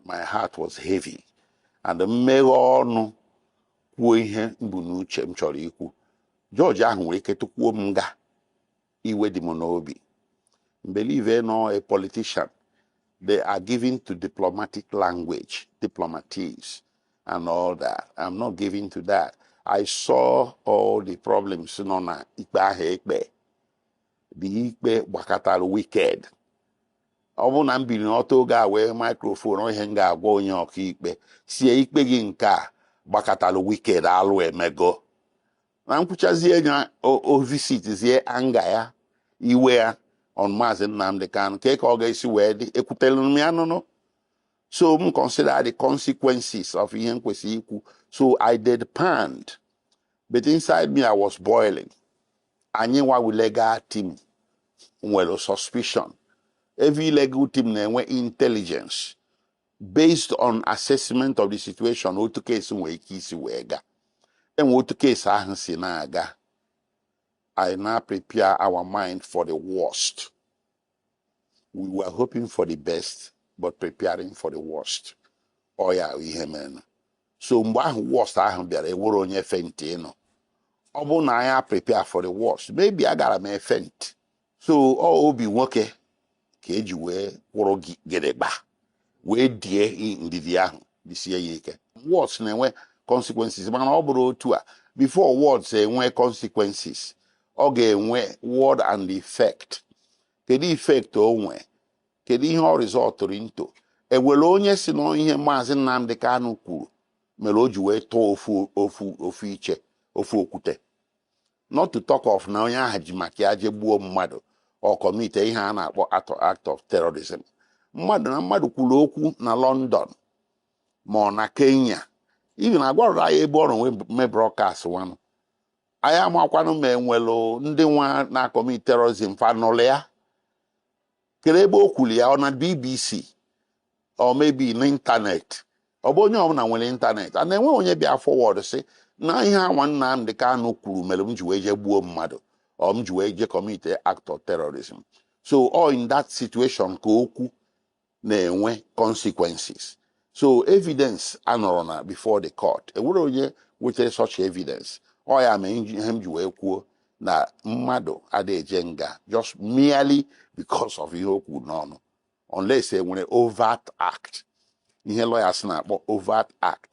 my heart was heavy and m meghe ọnụ kwuo ihe m bu n'uche m chọrọ ikwu jọji ahụ nwere ike tụkwuo m nga iwe dị m n'obi m believe na a politician they are given to diplomatic language diplomatics and all that i'm not given to that i saw all the problems nọ na ikpe ahụ e kpe the ikpe gbakatara wicked ọ bụrụ na m biri n'ọtọ oge a wee microphone ọ ihe m ga-agwa onye ọkaikpe sie ikpe gị nke a gbakatara wicked alụ emego na m kwuchazie ya o- o visitzie anger ya iwe ya on maazị Nnamdi Kanu ka ka ọ ga-esi wee dị ekwutere m ya nụnụ so m consider the consequences of ihe m kwesịrị ikwu so i deadpanned but inside me i was boiling Anyị nwa wụ legal team nwere suspicion. Every legal team na-enwe intelligence based on assessment of the situation otu case nwere ike isi wee ga. Enwe otu case ahụ si na-aga, anyị na-prepare our mind for the worst. we were hoping for the best but preparing for the worst ọ ya ihe mere so mgbe ahụ worst ahụ bịara enwere onye faintị nụ ọ bụrụ na anyị prepare for the worst maybe agara m e-faint so ọ obi nwoke ka e ji wee kwụrụ gidigba wee die ndidi ahụ disie ya ike words na-enwe consequences mana ọ bụrụ otu a before words enwe consequences ọ ga-enwe word and effect kedu effect o nwee kedu ihe ọ resultụrụ into enwere onye sị na ihe maazị Nnamdi Kanu kwuru mere o ji wee tụọ ofu iche ofu okwute not to talk of na onye ahụ ji maka ya je gbuo mmadụ or commitie ihe a na-akpọ act of terrorism mmadụ na mmadụ kwuru okwu na london ma ọ na kenya even agwarọdụ anyị ebe ọ nọrọ wee mee broadcast nwanụ anyị amakwanụ ma enwelụ ndị nwa na-acommit terrorism fa nụlụ ya kedu ebe o kwuru ya ọ na bbc or maybe n'ịntanetị ọ bụ onye ọbụla nwere ịntanetị a na-enwe onye bịa forward sị na ihe a nwa Nnamdi Kanu kwuru mere m ji wee jee gbuo mmadụ or m ji wee jee commitie act of terrorism so ọ in that situation ka okwu na-enwe consequences so evidence anọrọ na before the court enwere onye wetere such evidence ọ ya mee ihe m ji wee kwuo na mmadụ adịghị eje nga just merely because of ihe o kwuru n'ọnụ unless enwere overt act ihe lawyers na-akpọ overt act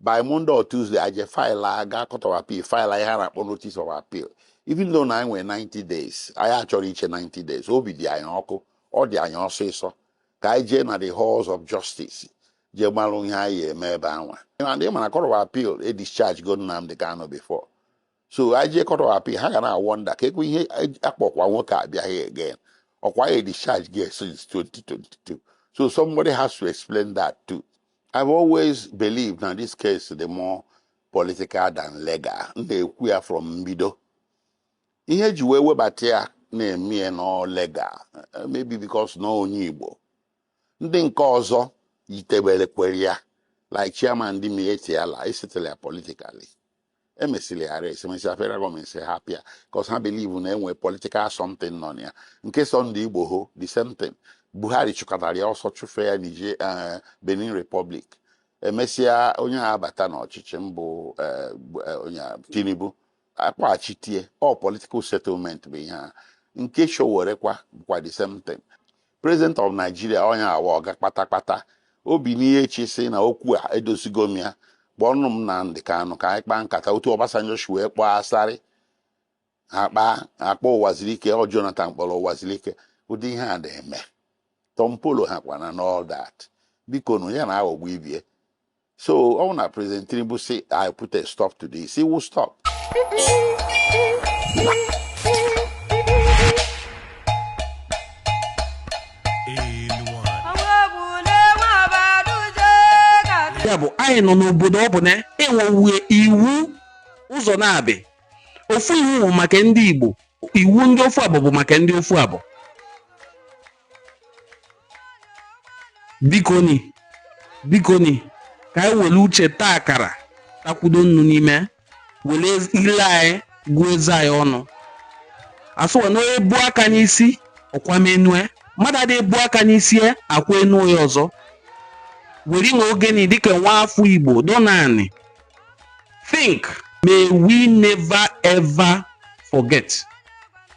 by Monday or Tuesday a je file a gaa court of appeal file ihe a na-akpọ notice of appeal even though na anyị nwere 90 days anyị achọrọ iche 90 days obi dị anyị ọkụ ọ dị anyị ọsịsọ ka anyị jee na the halls of justice jee malụ ihe anyị eme ebe anwa and ị ma na court of appeal e discharge go Nnamdi Kanu before so anyị jee court of appeal ha ga na-a wonder ka ekwe ihe akpọkwa nwoke a bịa here again ọkwa anyị a discharge gị since 2022 so somebody has to explain that too I've always believed na this case dị more political than legal m na-ekwu ya from mbido ihe eji wee webata ya na-eme ya na legal eh, maybe because na onye Igbo ndị nke ọzọ yitebere kwere ya like chairman ndị Miyetti Allah e settle ya politically emesịrị arrest emesịa federal government sị hapụ ya cause ha believe na enwe politikal something nọ na ya nke Sunday Igboho the same thing buhari chụkatara ya ọsọ chụfe ya Niger eh, benin republic emesịa onye a abata n'ọchịchị mbụ eh, bụ, eh, onye a, tinubu akpọghachite ya all political settlement bụ ihe a nke Sowore kwa bụkwa the same thing President of Nigeria ọ ya nwa ọga kpatakpata o binie echi sị na okwu a edozigo m ya kpọọnụ m Nnamdi Kanu ka anyị kpaa nkata otu Obasanjo si wee kpọọ Asari a kpaa a kpọọ Ụwazurike ọ Jonathan kpọrọ Ụwazurike ụdị ihe a na-eme Tompolo ha kwana and all that bikonụ ya na aghọgbu ibie so ọ bụ na president tinubu sị i put a stop to this he will stop ya bụ anyị nọ n'obodo ọ bụ na enwewe iwu ụzọ naabọ ofu iwu bụ maka ndị igbo iwu ndị ofu abụ bụ maka ndị ofu abụ bikoni bikoni ka anyị were uche taa akara takwudo nnu n'ime were ile anyị gụọ eze anyị ọnụ asụwa na onye bu aka n'isi ọkwamenue mmadụ adịghị ebu aka n'isi ya akwa enu ya ọzọ were nwa oge nị dịka nwa afọ igbo dọnọ anị think may we never ever forget